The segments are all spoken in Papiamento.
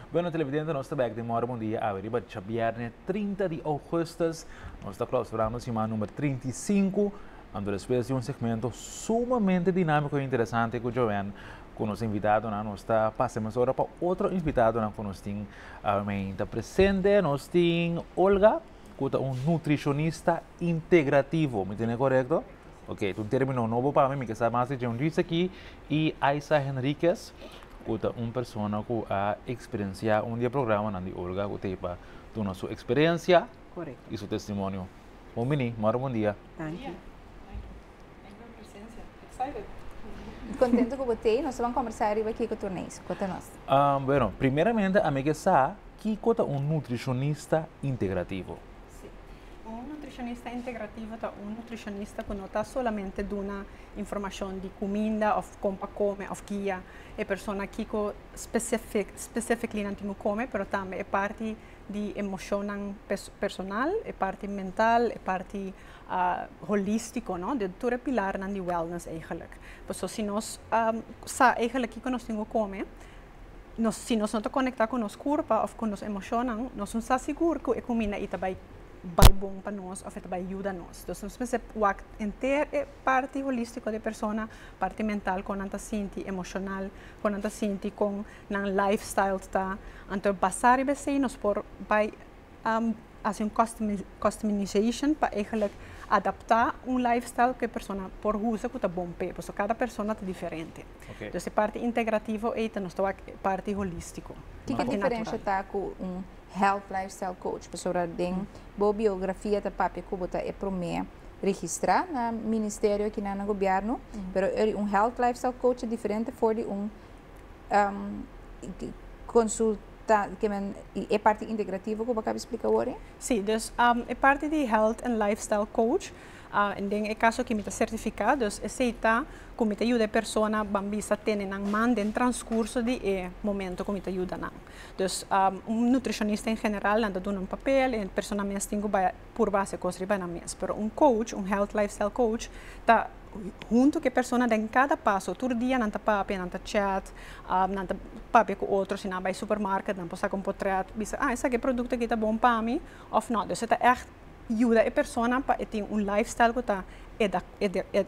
Bueno televidente, nos tabek den mora bon dia awe riba chabierne 30 di augustus. Nos ta clausurando sima nummer 35. Ando después di un segmento sumamente dinámico e interesante cu Joanne, cu nos invitado na nos ta pasa mas ora pa otro invitado na cu nos tin awe meinta presente. Nos tin Olga. ku ta un nutrishonista integrativo. Mi tene korekto? Ok, tu termino nobo pa mi, mi ke sa mas di John Reese aki i Aisa Henriquez, ku ta un persona ku a eksperensiá un di e programanan di Olga ku ta e pa duna su eksperensia i su testimonio. Bon bini, morro bon dia. Danki. Kontentu ku bo t'ei. Nos ta ban kombersá riba Kiko Turneiso. Kota nos. Bueno, primeramente ami ke sa kiko ta un nutrishonista integrativo? Si. Un nutrishonista integrativo ta un nutrishonista ku no ta solamente duna informashon di kuminda òf kon pa kome òf guia e persona kiko spesifik specifically nan tin ku kome pero tambe e parti di emoshonnan personal, e parti mental, e parti holístiko no den tur e pilarnan di wellness eigenlik. Paso si nos sa eigenlik kiko nos tin ku kome, nos si nos no ta konektá ku nos kurpa òf ku nos emoshonnan, nos no sa sigur ku e kuminda ei ta bai bai bon pa nos òf e ta bai yuda nos. Entonces nos mester wak henter e parti holístiko di e persona, parti mental, kon nan ta sinti, emoshonal, kon nan ta sinti, kon nan lifestyle ta, anto basá riba esei nos por bai a hasi un customization pa eigenlijk adaptá un lifestyle ku e persona por usa ku ta bon pa e. Pasobra kada persona ta diferente. Entonces e parti integrativo ei ta nos ta wak e parti holístiko. Kiko diferensha ta ku un health lifestyle coach? Pasobra den bo biografia ta papia ku bo ta e promé registrá na ministerio aki nan na gobièrnu, pero ora un health lifestyle coach ta diferente for di un consul. ta di kimen y e parti integrativo cu bo caba explica awor e? Si, dus e parti di health and lifestyle coach den e caso aki mi ta certifica, dus esey ta cu mi ta yuda e persona ban bisa tene nan man den transcurso di e momento cu mi ta yuda nan. Dus un nutricionista en general nan ta duna un papel y e persona mes tin cu bay Por base cos riba nan mes. Pero un coach, un health lifestyle coach, ta hunto cu e persona den cada paso. Tur dia nan ta papia, nan ta chat, nan ta papia cu otro. Si nan a bay supermarket nan por saca un potret, bisa, ah esaki e producto aki ta bon pa mi of no. Dus e ta echt yuda e persona pa e tin un lifestyle cu ta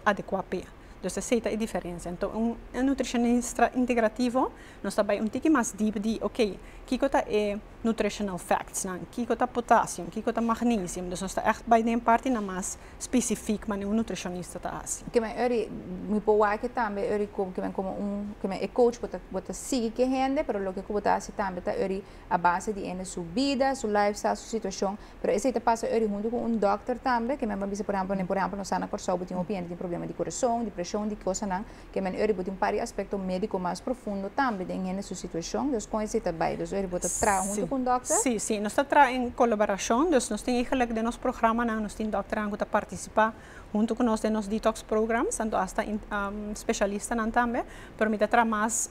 adecua p'e. Dus esey ta e diferencia. Enton un nutricionista integrativo nos ta bay un tiki mas diep di, ok, kico ta e. nutritional facts nan, kiko ta potassium, kiko ta magnesium, dus nos ta echt bai den partinan mas specifiek manera un nutricionista ta haci. Ke men ori, mi por wak tambe ori ke men como un, ke men e coach bo ta sigui ke hende, pero loke ku bo ta haci tambe ta ori a base di hende su bida, su lifestyle, su situacion, pero esei ta pasa ori hunto ku un dòkter tambe, ke men ban bisa por ehempel, por ehempel nos sa na Kòrsou bo tin hopi hende tin problema di corazon, di presion, di kosanan. Ke men ori bo tin par di aspekto médiko mas profundo tambe den hende su situashon, dus kon e sita bai. Dus ori bo ta traha huntu ku un dòkter? Sí, sí. Nos ta traha en kolaborashon. Dus nos tin egelik den nos programanan nos tin dòkternan ku ta partisipá huntu ku nos den nos detox programs, anto asta speshalistanan tambe. Pero mi ta traha mas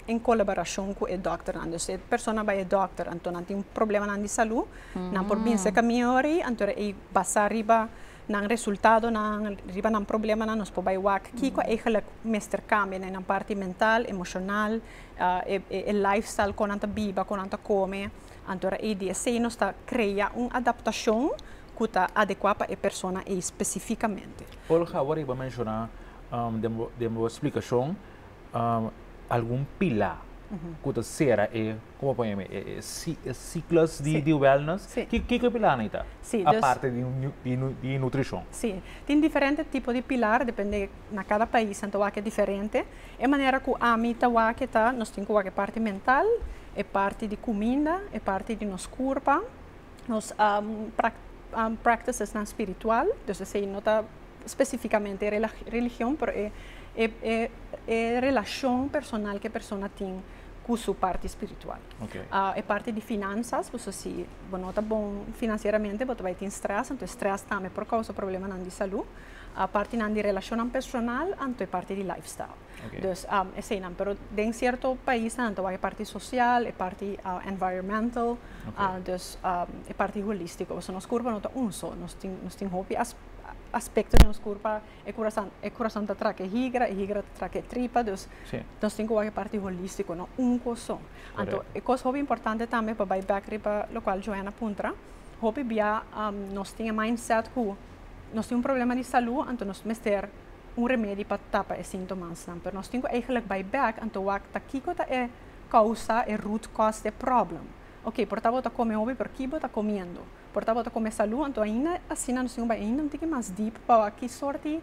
en kolaborashon ku e dòkternan. Dus e persona bai e dòkter anto nan tin problemanan di salú, nan por binse ka mi ori anto ey basá riba nan resultadonan, riba nan problemanan nos por bai wak kiko eigenlijk mester kambia den nan parti mental, emoshonal, e lifestyle kon nan ta biba, kon nan ta kome, anto ora ei di esei nos ta krea un adaptashon ku ta adekua pa e persona ei spesifikamente. Olga, awor bo a menshoná den bo splikashon algun pilá ku ta sera e. Como pone mi e ciclos di wellness ki ki pilar nan ta aparte di nutricion. Si tin diferente tipo di pilar depende na cada pais nan ta wak e diferente e manera cu ami ta wak ta nos tin cu wak e parti mental e parti di cuminda e parti di nos curpa nos practices nan spiritual dus esey no ta specificamente religion pero e relacion personal cu e persona tin ku su parti spiritual. E parti di finansas, paso si bo no ta bon finansieramente bo ta bai tin strès, anto e strès tambe por kousa problemanan di salu. Partinan di relashonnan personal, anto e parti di lifestyle. Dus eseinan. Pero den sierto paisnan nan ta wak e parti sosial, e parti environmental, dus e parti holístiko. Paso nos kurpa no ta un so, nos tin hopi aspekto den nos kurpa. E kurasan e kurasan ta traka e higra, e higra ta traka e tripa, dus Sí. nos tin ku wak e parti holístiko, no un kos so. Anto Correcto. e kos hopi importante tambe pa bai bèk riba lokual Joanna puntra, hopi bia am nos tin e mindset ku nos tin un problema di salú, anto nos mester un remedi pa tapa e sintomasnan. Pero nos tin ku eigelik bai bèk, anto wak ta kiko ta e kousa, e root cause, di e problem. Oké, por ta bo ta kome hopi, pero ki bo ta komiendo? Por ta bo ta come salú anto ainda asina nos tin un bai ainda un tiki mas deep pa wak ki sort di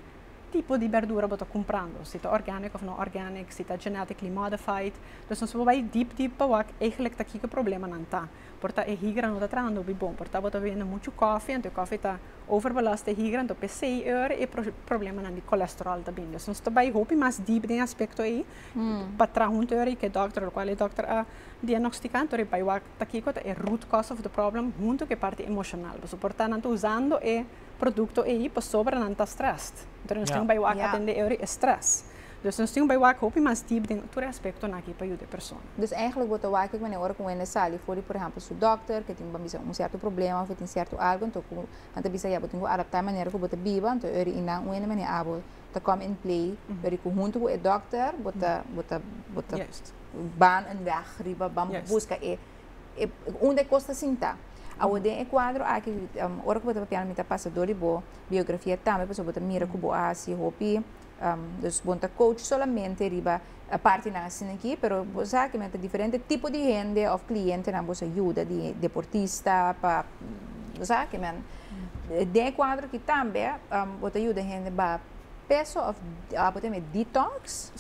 tipo di berdura bo ta cumprando, si ta organic of no organic, si ta genetically modified. Dus nos por bai deep deep pa wak eigenlic ta kiko problemanan ta. Por ta e higra no ta trahando bi bon, por ta bo ta bebendo muchu coffee anto e coffee ta overbelast e higra anto pesey e ora e problemanan di cholesterol ta bini. Dus nos ta bai hopi mas deep den aspecto ey pa traha un teoria cu e doctor locual e doctor a diagnostica anto riba e wak ta kiko ta e root cause of the problem hunto ku e parti emoshonal. Pasobra por ta nan ta usando e produkto ei pasobra nan ta strèst. Entonces nos tin bai wak atendé e ori e strès. Dus nos tin bai wak hopi mas diep den tur e aspektonan aki pa yuda e persona. Dus èigelik bo ta wak kico ora ku wende sali for di por ehèmpel su dòkter ke tin pa bisa un sierto problema òf e tin sierto algu enton ku nan ta bisa ya bo tin ku adaptá e manera ku bo ta biba enton e ori i nan wende manera abo ta come in play pero cu hunto cu e dokter bo ta bo ta bo ta ban un weg riba ban busca e e un de cos ta sinta awo den e cuadro aki ora cu bo ta papial mi ta pasa door di bo biografia tambe pasobra bo ta mira cu bo a haci hopi um bo no ta coach solamente riba E partinan asina aki, pero bo sa aki men ta diferente tipo di hende of clientenan bo sa yuda di deportista pa bo sa aki men den e cuadro aki tambe bo ta yuda hende ba peso of abo ta mi detox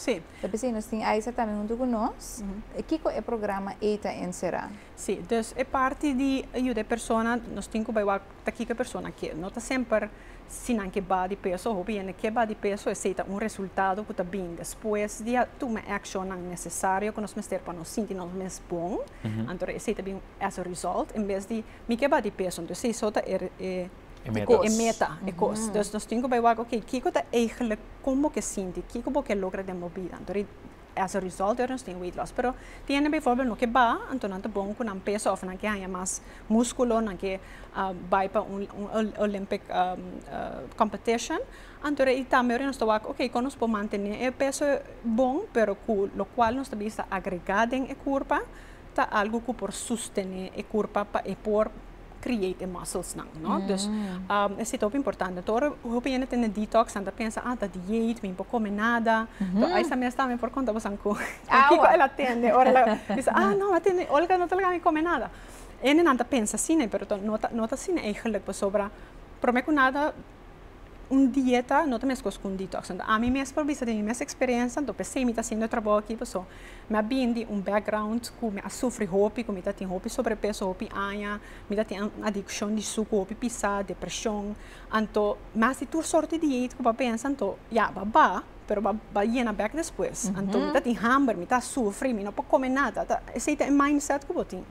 ta bisa nos tin Aiza tambe hunto cu nos kico e programa ey ta encera. Sí, dus e parti di a yuda e persona nos tin ku bai wak ta kiko e persona ke. No ta semper si nan ke ba di peso, hopi hende ke ba di peso esei ta un resultado ku ta bini despues di a tuma e akshonnan nesesario ku nos mester pa nos sinti nos mes bon, anto esei ta bin as a result en bes di mi ke ba di peso entonces esei so ta e meta, e kos. Dus nos tin ku bai wak, oke, kiko ta eigelik kon bo ke sinti, kiko bo ke logra den bo bida? Anto As a result ora nos tin weight loss. Pero tin hende beivorbel no ke baha, anto nan ta bon ku nan pesa òf nan ke haña mas múskulo, nan ke bai pa un Olympic competition. Anto rei tambe ora nos ta wak oke kon nos por mantené e peso bon pero ku lokual nos ta bisa agregá den e kurpa, ta algu ku por sustené e kurpa pa e por create e muscles nan no dus esta e hopi importante tur hopi hende tende detox nan ta pensa ah ta diet mi por come nada to ai sa mes tambe por conta bosan cu kiko ela tende ora la bisa ah no a tende Olga no ta laga mi come nada hende nan ta pensa asina pero no ta asina eigenlijk pasobra prome cu nada. Un dieta no ta meskos ku un detox. Anto ami mes por bisa den mi mes eksperiensia, anto p'esei mi ta hasiendo e trabou aki paso mi a bini di un background ku mi a sufri hopi, ku mi ta tin hopi sobrepeso hopi aña, mi ta tin un adikshon di suku hopi pisá, depreshon. Anto mas di tur sort di diet ku bo a pensa anto ya bo a ba, pero bo a yena bek despues. Anto mi ta tin hamber, mi ta sufri, mi no por kome nada. Esei ta e mindset ku bo tin.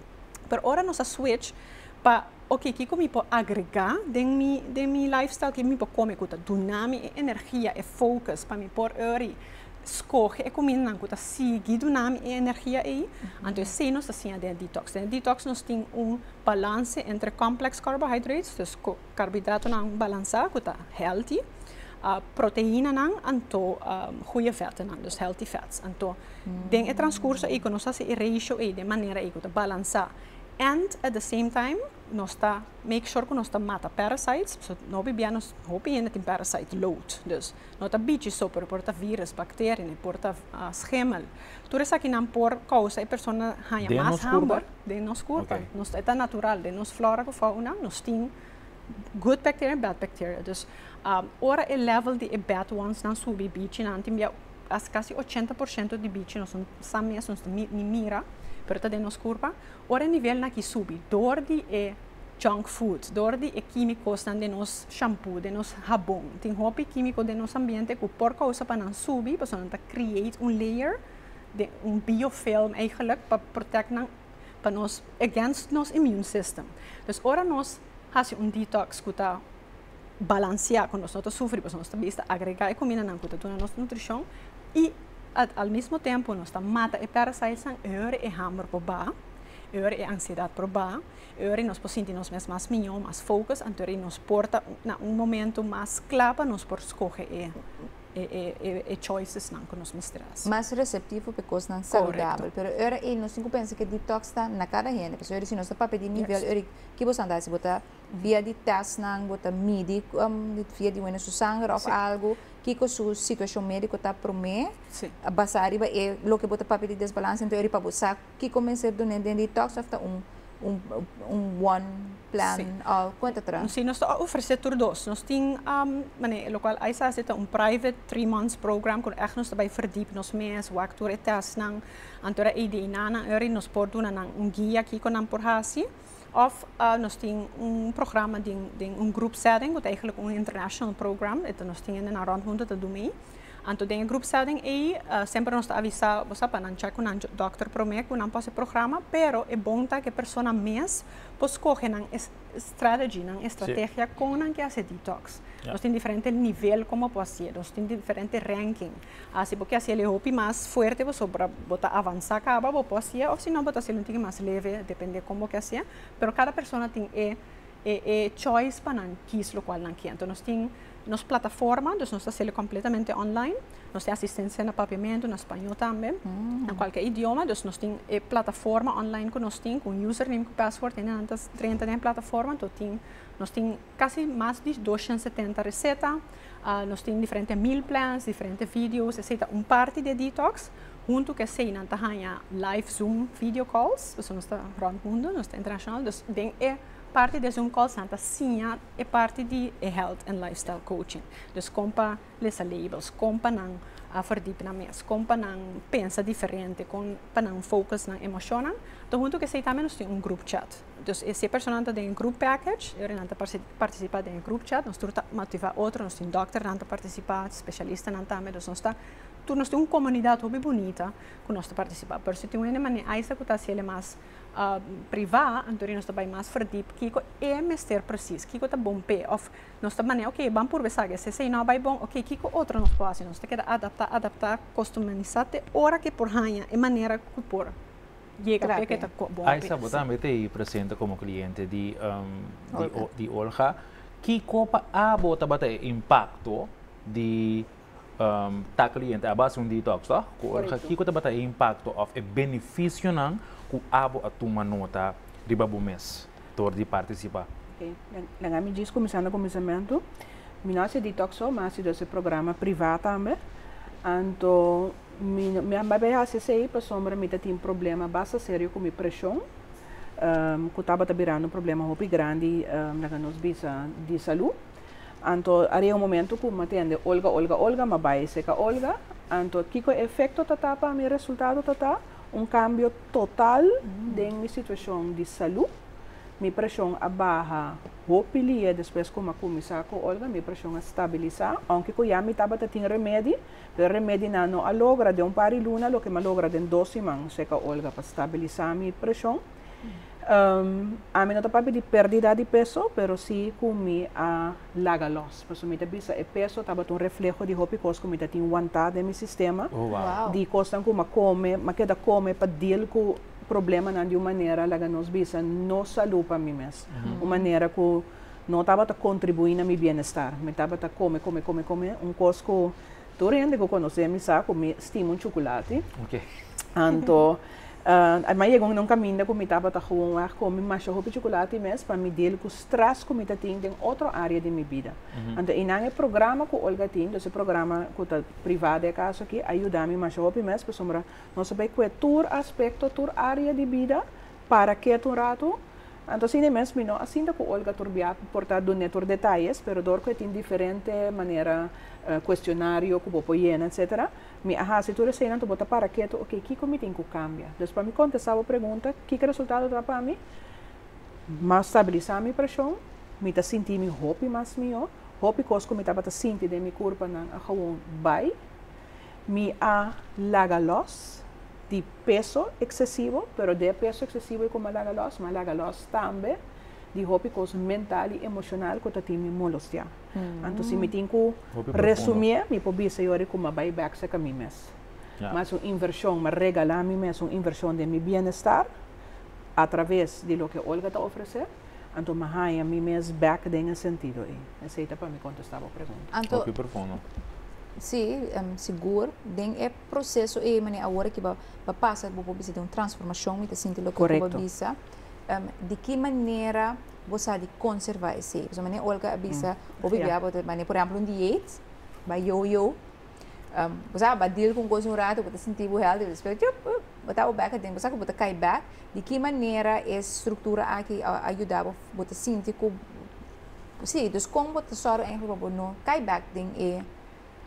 Pero ora nos a switch pa. Oke kiko mi por agregá den mi den mi lifestyle? Ke mi por kome ku ta duna mi e energia, e focus pa mi por ori skohe e kumindanan ku ta sigui duna mi e energia ei? Anto esei nos ta siña den e detox. Den e detox nos tin un balanse entre complex carbohydrates, dus ko karbohidratonan balansá ku ta healthy, proteinanan anto goeie vèttenan, dus healthy fats. Anto den e transkurso ei ku nos hasi e ratio ei den manera ei ku ta balansá And at the same time nos ta make sure ku nos ta mata parasites, so no bibia nos hopi hende tin parasite load, dus no ta bichi so pero por ta virus, bacteria ne por ta schimel. Tur esaki nan por causa e persona haña mas hamber den nos curpa. Nos ta natural den nos flora cu fauna nos tin good bacteria en bad bacteria. Dus ora e level di e bad ones nan subi bichi nan tin bia As casi ochenta por ciento di bichi nos no sa mes, nos ta ni mira, pero ta den nos curpa. Ora e nivel na aki subi door di e junk foods, door di e quimiconan den nos shampoo, den nos habon. Tin hopi quimico den nos ambiente cu por causa pa nan subi pasobra nan ta create un layer, un biofilm eigenlijk, pa protect nan pa nos against nos immune system. Dus ora nos hasi un detox cu ta. balanseá ku nos no ta sufri pasobra nos ta bisa agregá e kumindanan ku ta duna nos nutrishon i al mismo tempu nos ta mata e pèrasitnan e ora e hamber por ba, e ora e ansiedat por ba, e ora nos por sinti nos mes mas mió, mas fokus, anto ri nos por ta na un momentu mas kla pa nos por skohe e e choicesnan ku nos mester hasi. Mas reseptivo pa e kosnan saludabel. Pero e ora ei nos tin ku pensa ku e detox ta na kada hende pasobra si nos ta papia di e nivel ei, kibo sa bo ta hasi? Bo ta. Via di testnan bo ta midi via di wene su sanger of algu kiko su situacion medico ta prome basa ariba e loke bo ta papia di desbalance ento yari pa bo sa kiko mester done den detox of ta un un bon plan of con ta tra. Si nos ta ofrece tur dos nos tin mane lo cual AISAS esta un private three months program cu echt nos ta bay verdip nos mes wak tur e testnan antora ADNA nan yari nos por duna nan un guia kiko nan por haci. Of nos tin un programa den un group setting cu ta eigenlijk un international program e ta nos tin nan rond hunto ta dumi. Anto den e group setting ey semper nos ta avisa bo sa pa nan check cu nan doctor prome cu nan por haci e programa pero e bon ta cu e persona mes por scoge nan strategy, nan estrategia con nan ke haci detox. Nos tin diferente nivel como por haci e nos tin diferente ranking. A si bo ke hasiel e hopi mas fuerte pasobra bo ta avansa kaba bo por hasie of si no bo ta hasiel un tiki mas leve depende kon bo ke hasie pero kada persona tin e e choice pa nan kies lokual nan kie nos tin nos plataforma nos ta hasiel completamente online nos tin asistencia na papiamento na spañol tambe na cualkier idioma dus nos tin e plataforma online ku nos tin con user name con password en adelante treinta den e plataforma nos tin casi mas di dos shen setenta receta Nos tin diferente meal plans, diferente videos, esei ta un parti di e detox. Huntu ku esei nan ta haña live zoom video calls, pasobra nos ta rònt mundu, nos ta internashonal. Dus den e parti di e zoom calls nan ta siña e parti di e health and lifestyle coaching. Dus kon pa lesa labels, kon pa nan a fòrdip nan mes, kon pa nan pensa diferente, kon pa nan focus nan emoshonnan. Huntu ku esei tambe nos tin un group chat. Dus e siete personanan ta den e group package, e hora nan ta participa den e group chat, nos tur ta motiva otro, nos tin dokternan ta participa, specialistanan tambe, dus nos ta, tur nos tin un comunidad hopi bunita cu nos ta participa, pero si tin un hende manera aysla cu ta haci ele mas priva, anto nos ta bay mas verdiep kico e mester precies, kico ta bon p'e, of nos ta manera ok ban purba esaki, e sese no a bay bon, ok kico otro nos por haci, nos ta keda adapta, adapta, customisa te ora que por haya e manera cu por. yega p'e ke ta kòp bon p'e. Aisa, bo tambe ta e presente komo kliente di di Olga. Kiko pa abo tabata e impakto di ta kliente? Abo a hasi un detox tò ku Olga. Kiko tabata e impakto òf e benefisionan ku abo a tuma nota riba bo mes dor di partisipá? Oke, den ami djis kuminsando kuminsamentu, mi no a hasi e detox so, mi a hasi dus e programa privá tambe. Anto. Mi no, mi a bai hasi esei pasobra mi ta tin problema basta serio ku mi preshon, ku tabata birando un problema hopi grandi laga nos bisa di salú. Anto a riba un momentu ku mi a tende olga, olga, olga, mi a bai esei ka olga. Anto kiko e efekto ta ta pa mi? E resultado ta ta un kambio total den mi situashon di salú. Mi preshon a baha hopi lia despues ku mi a kuminsá ku olga, mi preshon a stabilisá, ounke ku ya mi tabata tin remedi. Pero remedinan no a logra den un par di luna loke mi a logra den dos siman, Seca Olga, pa stabilisa mi presion. Ami no ta papia di perdida di peso, pero si cu mi a laga los. Pasobra mi ta bisa e peso tabata un refleho di hopi cos cu mi ta tin wanta den mi sistema, di cosnan cu mi a come, mi a keda come pa deal cu problemanan di un manera, laga nos bisa, no salud pa mi mes. Un manera cu. no tabata kontribuí na mi bienestar. Mi tabata kome, kome, kome, kome, un kos ku tur hende ku konosé mi sa ku mi stima un chukulati. Anto, a mai yega un kaminda ku mi tabata gewonweg kome masha hopi chukulati mes pa mi deal ku strès ku mi ta tin den otro área di mi bida. Anto, einan e programa ku Olga tin, dos e programa ku ta privá den e kaso akí, a yuda mi masha hopi mes pasobra nos a bai kue tur aspekto, tur área di bida Para kiet un ratu. Anto asina e mes minó a sinta ku Olga Turbiaku por ta dun'é tur detayes, pero dor ku e tin diferente manera kuestionario ku bo por yena etsetera. Mi a hasi tur eseinan anto bo ta para ketu, ok, kiko mi tin ku kambia? Des pa mi kontestá bo pregunta, kiko resultado ta pa mi? M'a stabilisá mi preshon, mi ta sinti mi hopi mas mihó, hopi kos ku mi tabata sinti den mi kurpanan a gewoon bai. Mi a laga los di peso eksesivo, pero de e peso eksesivo ei ku mi a laga los, mi a laga los tambe di hopi kos mental i emoshonal ku ta tin mi molostiá. Anto si mi tin ku resumié, mi por bisa yori ku mi a bai bèk serka mi mes. Mi a hasi un invershon, mi a regalá mi mes un invershon den mi bienestar atraves di loke Olga ta ofresé. Anto mi haña mi mes bèk den e sentido ei. Esei ta pa mi kontestá bo pregunta. Anto, Hopi profundo. sí, sigur, den e proseso ei manera awor aki bo a pasa bo por bisa den un transformashon, mi ta sinti loke ku bo a bisa. Korekto. Di ki manera bo sa di konservá esei? Pasobra manera Olga a bisa hopi bia bo ta manera, por ehèmpel, un diet, bai yo-yo. Um, bo sa, bo a deal con cos un rato, bo ta sinti bo healthy, despues, tchup, uh, bo ta bo back aden. Bo sa cu bo ta cai back. Di ki manera e structura aki a yuda bo, bo ta sinti cu, si, dus con bo ta zorg eigenlijk pa bo no cai back den e,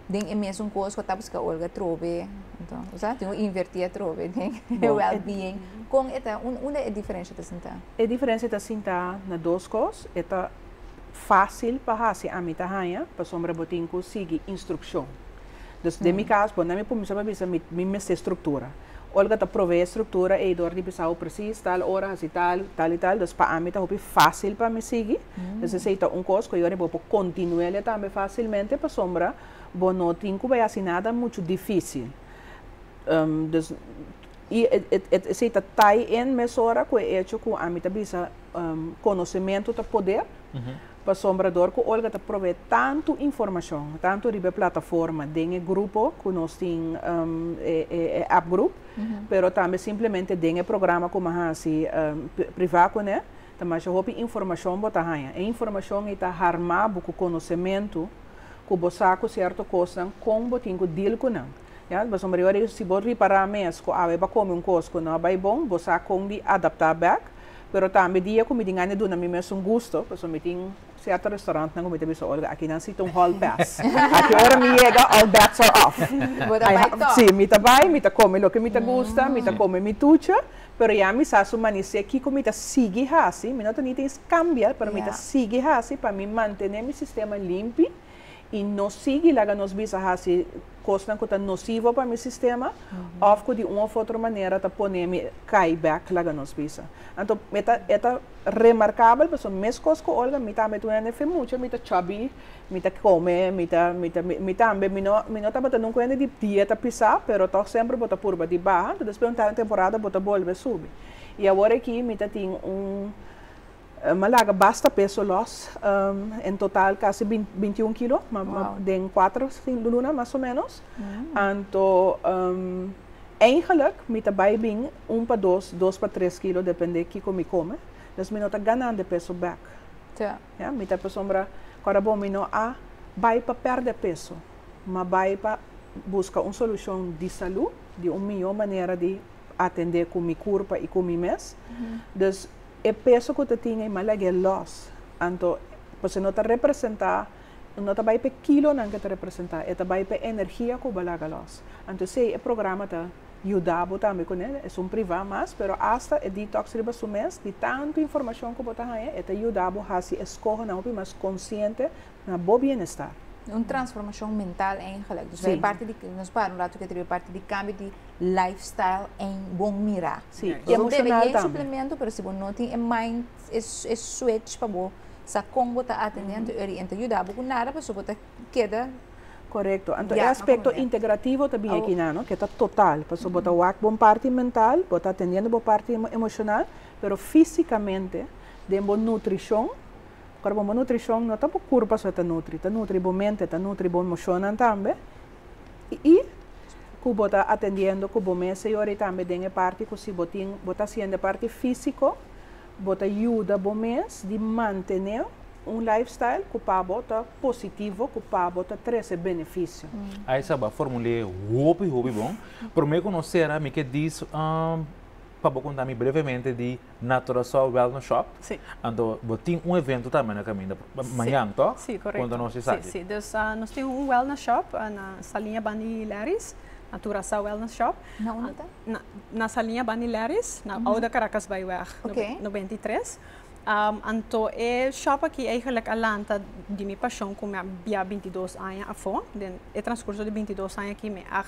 den e mesun cos cu a tabasca olga atrobe, enton, bo sa, tin un inverti atrobe den e wellbeing. Con e ta, un, unda e diferencia ta sinta? E diferencia ta sinta na dos cos, e ta. Fácil pa hasi ami ta haña pasobra bo tin ku sigui instrukshon. Dus den mi kas bo na mi pumiso pa bisa mi mester struktura. Olga ta provee e struktura ei dor di bisau presis tal ora hasi tal, tal i tal. Dus pa ami ta hopi fácil pa mi sigui. Dus esei ta un kos ku yora bo por kontinuelia tambe fásilmente pasobra bo no tin ku bai hasi nada muchu difísil. Dus i esei ta tai en mesora ku e echo ku ami ta bisa Um, konosementu ta poder, pasobra dor ku Olga ta provee tantu informashon, tantu riba e plataforma, den e grupo ku nos tin, um, e, e, e app group, pero tambe simplemente den e programa ku mi a hasi, um, privá kuné, ta masha hopi informashon bo ta haña. E informashon ei ta harmá bo ku konosementu ku bo sa ku sierto kosnan kon bo tin ku deal ku nan. Ya, pasobra e ora ei si bo ripará mes ku awe bo a kome un kos ku no a bai bon, bo sa kon di adaptá bèk. Pero tambe dia ku mi tin gana di duna mi mes un gusto, pasobra mi tin sierto restaurantnan ku mi ta bisa, Olga, aki nan si ta un hall pass. Aki ora mi yega, all bets are off. Bo ta bai tòg. Sí, mi ta bai, mi ta kome loke mi ta gusta, mi ta kome mi tuchi, pero ya mi sa su manisé kiko mi ta sigui hasi, mi no ta ni ta eskambial, pero mi ta sigui hasi pa mi mantené mi sistema limpi i no sigui laga nos bisa hasi kosnan ku ta nosivo pa mi sistema òf ku di un òf otro manera ta pone mi kai bèk laga nos bisa. Anto e ta e ta remarkabel pasobra meskos ku Olga mi tambe ta un hende fin mucha, mi ta chòbi, mi ta kome, mi ta mi ta mi tambe mi no mi no tabata nunka un hende di dieta pisá pero tòg semper bo ta purba di baha, despues un temporada bo ta bolbe subi. I awor aki mi ta tin un M'a laga basta peso lòs. En total kasi binti un kilo den kuater luna mas o ménos. Anto eingelik mi ta bai bin un pa dos, dos pa tres kilo dependé kiko mi kome. Dus mi no ta ganan de peso bèk. Ya. Mi ta pasobra ku a rabon mi no a bai pa pèrdè peso, m'a bai pa buska un solushon di salú, di un mihó manera di atendé ku mi kurpa i ku mi mes. Dus. e peso ku ta tin ei ma lag'é lòs. Anto pasobra no ta representá, no ta bai p'e kilonan ku ta representá, e ta bai p'e energia ku bo laga lòs. Anto esei e programa ta yuda bo tambe kuné. Es un privá mas, pero asta e detox riba su mes, di tantu informashon ku bo ta haña, e ta yuda bo hasi eskohonan hopi mas konsiente. na bo bienestar. Un transformacion mental eigenlijk. Dus wij parti di, nos para un rato keter, wij parti di cambio di lifestyle en bon mira. Si, y emocional tambe. Bo debe yen suplemento, pero si bo no tin e mind, e switch pa bo sa con bo ta atendi anterior y e no ta yuda bo cu nada, pasobra bo ta keda. Corecto. Anto e aspecto integrativo ta bini aki nan, no? Ke ta total. Pasobra bo ta wak bon parti mental, bo ta atendiendo bo parti emocional, pero fisicamente, den bo nutricion, Ora bo malnutricion no ta bo curpa su e ta nutri, ta nutri bo mente, ta nutri bo emocionnan tambe y cu bo ta atendiendo cu bo mes señor y tambe den e parti cu si bo tin bo ta haciendo e parti fisico bo ta yuda bo mes di mantene un life style cu pa bo ta positivo cu pa bo ta trece beneficio. Ay sa bo a formule hopi hopi bon. Prome cu no cera mi ke diz pa bo conta mi brevemente di. na Curaçao Wellness Shop. Sí. Anto bo tin un evento tambe na kaminda mañan to? Sí, sí korekto. Konta nos esaki. Sí, sí. Dus nos tin un Wellness Shop na Saliña ban di Larry's, na Curaçao Wellness Shop. Na unda ta? Na na Saliña ban di Larry's, na Oude Caracasbaaiweg noventa i tres. Anto e shop aki eigenlijk a lanta di mi pashon ku mi a bia binti dos aña afó. Den e transkurso di binti dos aña aki mi a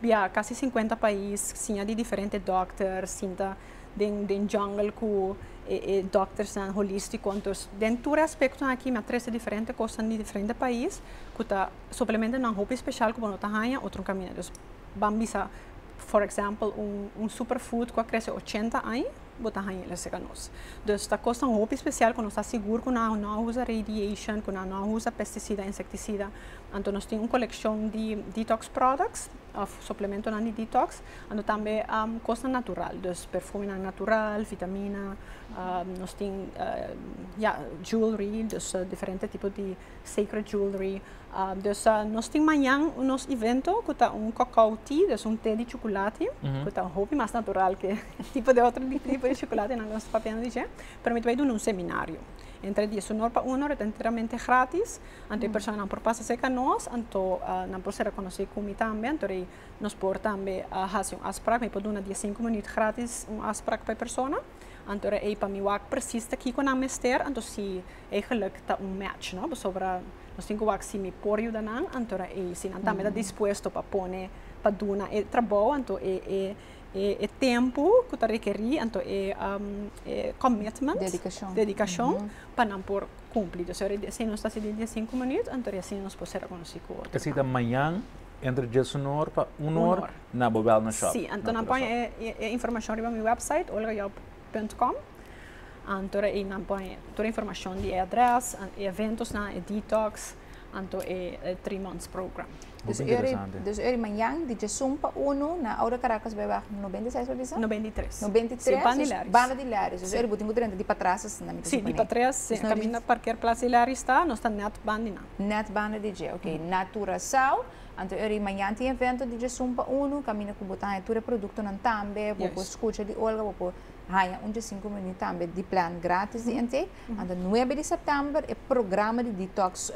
Bia casi cincuenta pais siña di diferente dokter sinta den den jungle cu e e doktersnan holistico entos den tur e aspectonan aki mi a trece diferente cosnan di diferente pais cu ta suplementonan hopi special cu bo no ta haña otro caminda dus ban bisa for example un un super food cu a crece ochenta aña. Bo ta haña el a sega nos. Dus ta kosnan hopi spesial ku nos ta sigur ku nan no a usa radiation, ku nan no a usa pesticida, insecticida. Anto nos tin un kolekshon di detox products of suplementonan di detox, anto tambe kosnan natural. Dus perfumenan natural, vitamina, nos tin ya jewelry, dus diferente tipo di Sacred Jewelry. Dus nos tin mañan nos evento cu ta un cacao tea, dus un te di chuculati, cu ta un hopi mas natural ke tipo di otro tipo di chuculati nan nos papiando di dje. Pero mi ta bay duna un seminario entre dies uno pa uno, ta enteramente gratis, anto e personanan por pasa cerca nos, anto nan por ser reconoce cu mi tambe, anto rei nos por tambe haci un afspraak, mi por duna dies sinku minuut gratis un afspraak pa e persona, anto rei pa mi wak precies ta kico nan mester, anto si. E geluk ta un match no pasobra nos tin ke wak si mi por yuda nan anto a e si nan tambe ta dispuesto pa pone pa duna e trabou anto e e e tempu ku ta rekeri anto e e commitment dedikashon pa nan por kumpli dus ora e si nos ta sidi dies sinku minüt anto e si nos por ser rekonosí ku otro esei ta mañan entre dies un or pa un or na bo wèlnèsshòp si anto nan pon e informashon riba mi wèpsait olgajob. Punt com anto de ahí nan pone tur e informashon di e adrès, e eventosnan, e detox, anto e three months program. Hopi interesante. Dus uri manyan di djesun pa unu na Oude Caracas Bijweg nobenta i seis bo bisa? Nobenta i tres. Nobenta i tres. Si, banda di Leris. Banda di Leris. Dus uri bo tin ku drenta di patras asina mi ta Si, di patras, si, kaminda parker plas di Leris ta, nos ta nèt banda di nan. Nèt banda di dje, ok. Na Curaçao. Anto e rimañan tin evento di djesun pa unu, kaminda ku bo ta haña tur e produktonan tambe, bo por skucha di Olga, bo por haña un djesinku menu tambe di plan gratis di NT. Anto nuebe di sèptèmber e programa di detox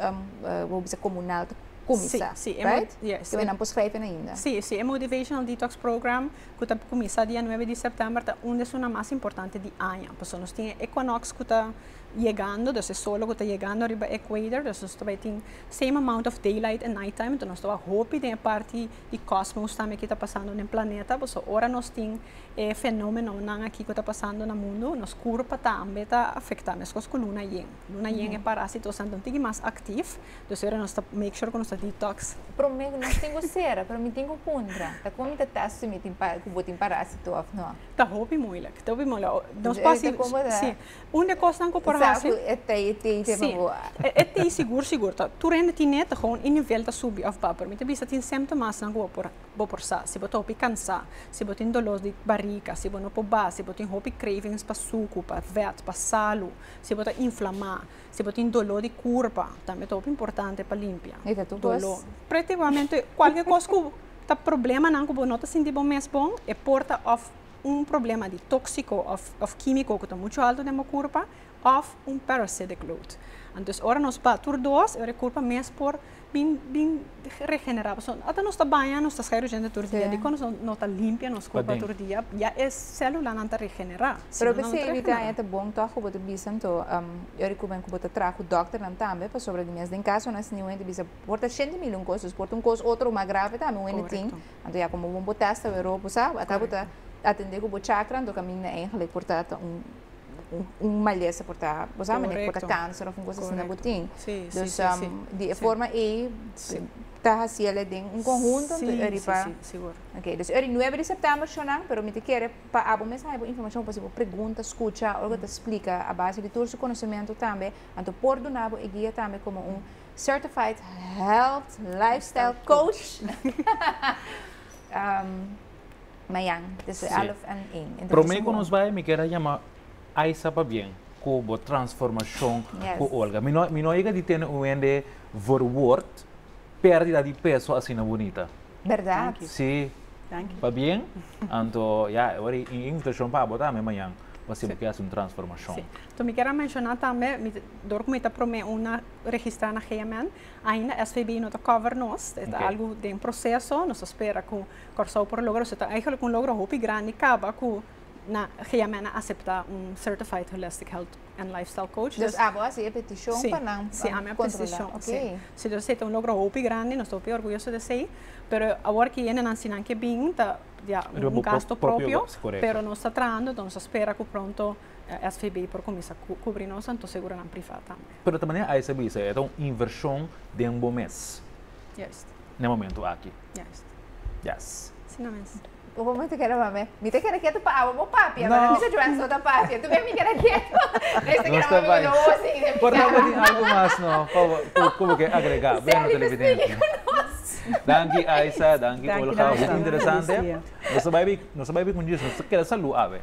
bo bisa komunal ta kuminsá, right? Ke we nan por skrijf fen ainda. Sí, sí, e motivational detox program ku ta kuminsá dia nuebe di sèptèmber ta un des su nan mas importante di aña. Pasobra nos tin e Equinox ku ta yegando, dus e solo ku ta yegando riba equator, dus nos ta bai tin same amount of daylight en night time, enton nos ta bai hopi den e parti di kosmos tambe ku ta pasando den planeta, por eso ora nos tin e fenomenonan aki ku ta pasando na mundu, nos kurpa tambe ta afektá, meskos ku luna yen, luna yen e parasitonan ta un tiki mas aktiv, dus ora nos ta make sure ku nos ta detox. Prome nos tin ku sera, pero mi tin ku puntra, ta kon mi ta test si mi tin ku bo tin parasito òf nò? Ta hopi moeilijk, ta hopi moeilijk, nos por si, si, Un de kosnan ku por hasi. Sa ku e tei tei no bo a. Si, e tei sigur sigur ta. Tur hende tin neta gewoon e nivel ta subi òf ba. Pero mi ta bisa tin sèmptomasnan ku bo por bo por sa. Si bo ta hopi kansá, si bo tin dolor di barika, si bo no por ba, si bo tin hopi cravings pa suku, pa vèt, pa salu, si bo ta inflamá, si bo tin doló di kurpa, tambe ta hopi importante pa limpia. E ta tur kos? Doló. Pretigamente kualke kos ku ta problemanan ku bo no ta sinti bo mes bon e por ta òf. un problema di tóksiko òf kímiko ku ta muchu altu den bo kurpa òf un parasitic load. Anto ora nos bat tur dos, e ora e kurpa mes por bin bin regenerá. Pasobra ora nos ta baña, nos ta skei rushente tur dia. Dikon nos no ta limpia nos kurpa tur dia? Ya e sélulanan ta regenerá. Pero p'esei e bitaña ta bon tòg ku bo ta bisa anto, e ora ku men ku bo ta traha ku dòkternan tambe, pasobra di mes den kasonan si niun hende bisa, por ta shente mihó un kos, dus por ta un kos otro mas grave tambe un hende tin. Anto ya komo bo test ta wero bo sa ata bo ta atende ku bo chakra anto kaminda eigenlijk por ta ta un un malesa por ta bo sa manera ku por ta kanser òf un kos asina bo tin dus di e forma ei ta hasi el den un konhunto anto eri pa ok dus eri nuebe di sèptèmber shò nan pero mi ta kere pa abo mes haya bo informashon pa hasi bo pregunta skucha algu ta splika a base di tur su konosementu tambe anto por duna bo e guia tambe komo un Certified Health Lifestyle Coach. um, Mayan, dus we alf en één. Promé ku nos bai, mi kier a yama Aisa pa bien, ku bo transformashon ku Olga. Mi no, mi no yega di tene un hende verwoord pérdida di peso asina bonita. Verdad. Si, pa bien, anto, ya, e wari invitashon pa abo tambe mayan, pa si bo kier hasi un transformashon. Si. To mi kier a menshoná tambe, dor ku mi ta promé una registrá na GMN. Ainda SVB no ta cover nos, e ta algu den proceso, nos ta spera cu Kòrsou por logra, so ta eigenlijk un logro hopi grandi caba cu na GMN a acepta un Certified Holistic Health and Lifestyle Coach. Dus abo a haci e peticion si, pa nan si ami a controla. Okay. Si, si dus esey ta un logro hopi grandi, nos ta hopi orguyoso di esey, pero awor ki e nennan si nan ke bin ta ya un gasto propio, pero nos ta trahando, nos ta spera cu pronto SVB por cuminsa cubri nos, anto seguro nan priva tambe. Pero ta manera Aisa bisa, e ta un invershon den bo mes. Juist. Na e momentu aki. Juist. Yes. Asina mes. Un momentu keda mame, mi ta keda ketu pa awa bo papi, a manda Misa Joans no ta papia, tu mira mi keda ketu. Mes ta keda mame no osa di Misa Joans. Por lamber tin algu mas no pa ku bo ke agrega? Bueno televidente. Seli ta spiki ku nos. Danki Aisa, danki Olga, hopi interesante. Nos ta bai nos ta bai bai ku Djis, nos ta keda salu awe.